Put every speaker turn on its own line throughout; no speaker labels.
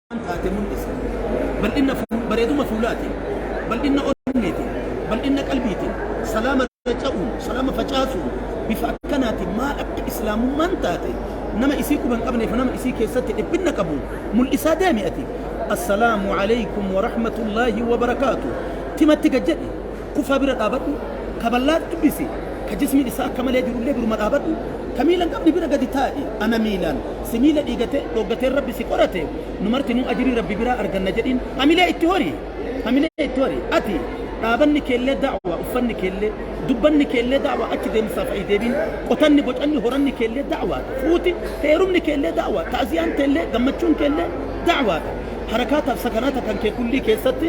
waan taate mul'isa. Bal'inna fuul- bareeduma fuulaatiin, bal'inna onneetiin, bal'inna qalbiitiin, salaama faca'uun, salaama facaasuun bifa akkanaatiin maal akka islaamummaan taate nama isii quba hin qabneef nama isii keessatti dhiphinna qabu mul'isaa deemi ati. Assalaamu alaykum wa rahmatullaahi wa barakaatu. Timatti gad jedhi. Kufaa bira dhaabadhu, ka ballaatti uwwisi, ka jismiin isaa akka malee jiru illee duruma dhaabadhu, ka miila hin qabne bira gadi taa'i, ana miilaan, si miila dhiigatee, dhooggateen Rabbi si qorate, nu martinuu ajrii Rabbi biraa arganna jedhiin. Hamilee itti hori! Hamilee itti hori! Ati, dhaabanni kee illee da'waa, uffanni kee illee, dubbanni kee illee da'waa, achi deemsaaf ayi deebiin, qotanni, bocanni, horanni kee illee da'waa dha. Fuuti, heerumni kee illee da'waa dha. Ta'ziyaan tee illee, gammachuun kee illee da'waa dha. Harakaataaf sakanaata kan kee kullii keessatti,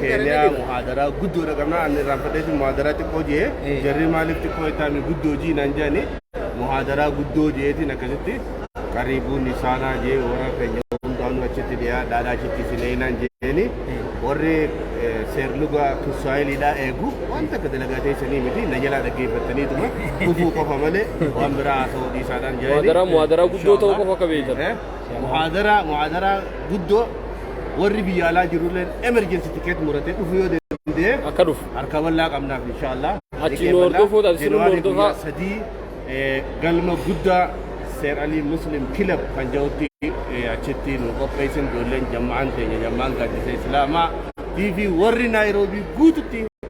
Keeniyaa muhaadaraa guddoo dhaqabnaa ani irraan fadheetiin muhaadaraa xiqqoo jee jarri maaliif xiqqoo ittaami guddoo jii naan jaani muhaadaraa guddoo jeetiin akkasitti qariibuun isaanaa jee warra keenya hundaanuu achitti dhiyaa dhaadhaa achitti isinee naan jeeni warri seerluga tusaayiliidhaa eegu waan takka dalagaa teessanii miti na jalaa dhaggeeffattaniituma kufuu qofa malee waan biraa haasa'uu dhiisaadhaan jaani muhaadaraa muhaadaraa guddoo ta'uu
qofa akka beektan. Muhaadaraa
muhaadaraa guddoo warri biyya alaa jirulleen emergency ticket muratee dhufu yoo danda'e Akka dhufu. harka bal'aa
qabnaaf
inshaallah. Achi nu hordofuu
taate, sirna January hordofaa. guyyaa sadii eh,
galma guddaa Seer Alii Muslim Kilab kan jedhutti eh, achitti nu qopheessin ijoolleen jama'aan keenya jama'aan gaaddisa Islaamaa TV warri Naayiroobii guututti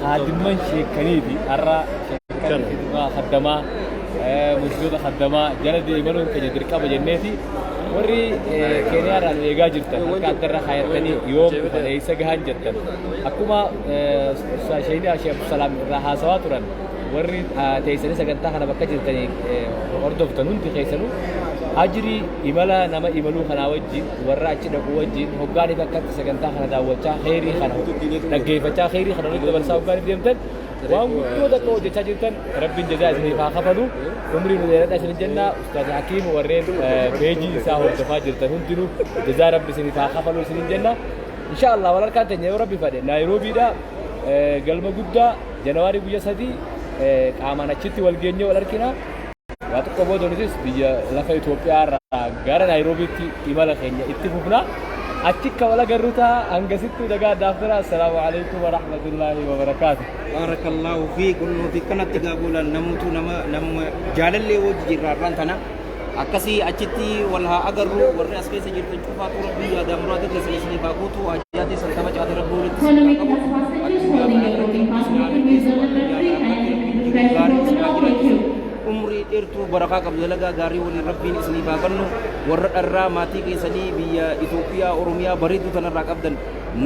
Kaadimman sheekkanii fi har'a sheekkan hidhumaa haddamaa murtoota haddamaa jala deemanuun keenya dirqama jenneeti warri keeniyaa irraa nu eegaa jirtan harka adda irra haayatanii yoom dhufan eessa gahan jettan akkuma sheeynii ashee abdusalaam irraa haasawaa turan warri teessanii sagantaa kana bakka jirtanii hordoftan hundi keessanuu ajrii imala nama imaluu kanaa wajjin warra achi dhaquu wajjin hoggaaniif akka sagantaa kana daawwachaa kheyrii kana dhaggeeffachaa kheyrii kana nutti dabarsaa hoggaaniif deemtan waan guddoo tokko hojjechaa jirtan rabbiin jazaa isiniif haa kafalu umrii nu dheeradha isin jenna ustaaz hakiim warreen peejii isaa hordofaa jirtan hundinuu jazaa rabbi isiniif haa kafalu isin jenna insha allah wal harkaan teenya yoo rabbi fadhe naayiroobiidha galma guddaa janawaarii guyya sadii qaamaan achitti wal geenyee wal harkina Waa tokko booda nutis biyya lafa Itoophiyaa irraa gara Naayiroobiitti imala keenya itti fufna. Achi akka wal agarru ta'a hangasittuu nagaa addaaf tura. Assalaamu alaikum wa rahmatullaahi wa barakaatu. Baarakallaahu fi kunnoo fi kanatti gaagoolaan namutu nama nama jaalallee wajji jirraarraan tana akkasii
achitti wal haa agarru warri as keessa jirtan. Faatuu Rabbii yaadaa muraada keessan isiniif haa guutu haajaa teessan kabajaate Rabbii walitti isin haa qabu
Atis yaadaa Rabbii isin haa milkeessu Rabbii yaadaa Rabbii milkii gaarii isin haa jiraachisu umrii dheertuu
barakaa qabdu dalagaa gaarii waliin Rabbiin isiniif haa kennu warra dharraa maatii keessanii biyya Itoophiyaa Oromiyaa bareedduu tanarraa qabdan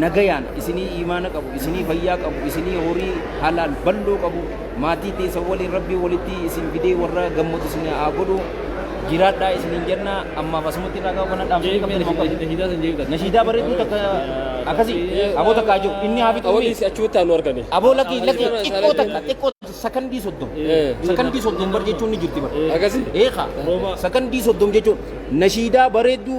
nagayaan isinii iimaana qabu isinii fayyaa qabu isinii horii halaal bal'oo qabu Maatii teessan waliin Rabbiin walitti isin fidee warra gammadu isin haa godhu. Jiraadhaa isiniin jenna. Ammaaf asumatti irraa gahu kana dhaamsanii qabdan isin qabdu. Nashiidaa san jeeqatan. Nashiidaa bareedduu takka akkasii aboo takka haa jiru. Inni haa fixu. Awolis achuutti aanu argame.
Aboo lakki lakki
xiqqoo takka xiqqoo sakandii soddom. Sakandii soddom bar jechuun ni jirti bar. Akkasi. Eeka sakandii soddom jechuun nashiidaa bareedduu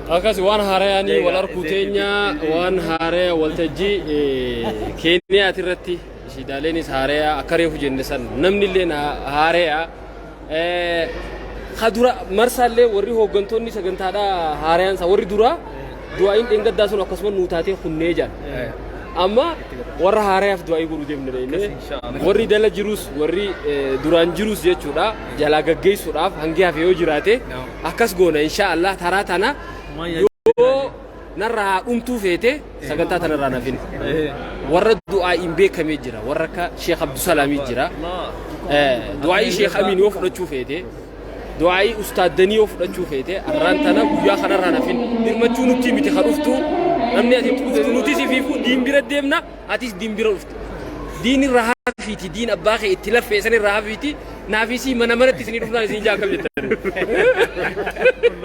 Akkasi
waan haarayaanii wal arkuu teenya waan haaraya waltajjii keeniyaati irratti shiidaaleenis haaraya akka reefu jenne san namni illee haaraya ka dura marsaa illee warri hooggantoonni sagantaadha haarayaan isaa warri duraa du'aa'iin dheengaddaa sun akkasuma nuu taatee kunnee jaan amma warra haarayaaf du'aa'ii godhu deemne deemne warri dala jirus warri duraan jirus jechuudha jalaa gaggeessuudhaaf hangi hafe yoo jiraate akkas goona inshaa Allah taraa tana yoo narra haa dhumtuu feete sagantaa tana irraa nafin warra du'aa hin beekamee jira warra akka Sheekh Abdusalaamii jira du'aa'ii Sheekh Amiin yoo fudhachuu feete du'aa'ii ustaaddanii yoo fudhachuu feete arraan tana guyyaa kanarraa nafin dirmachuu nutti miti kan dhuftu namni ati nuti sifiifuu diin bira deemna Atis diin bira dhufte. Diin irraa hafiiti diin abbaa kee itti laffee san irraa hafiiti naafisii mana manatti isinii dhufnaan isin ijaa akkam jettan.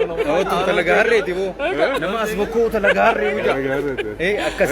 Nama
as bokkuu talagaa harree. Nama as bokkuu talagaa harree. Akkas.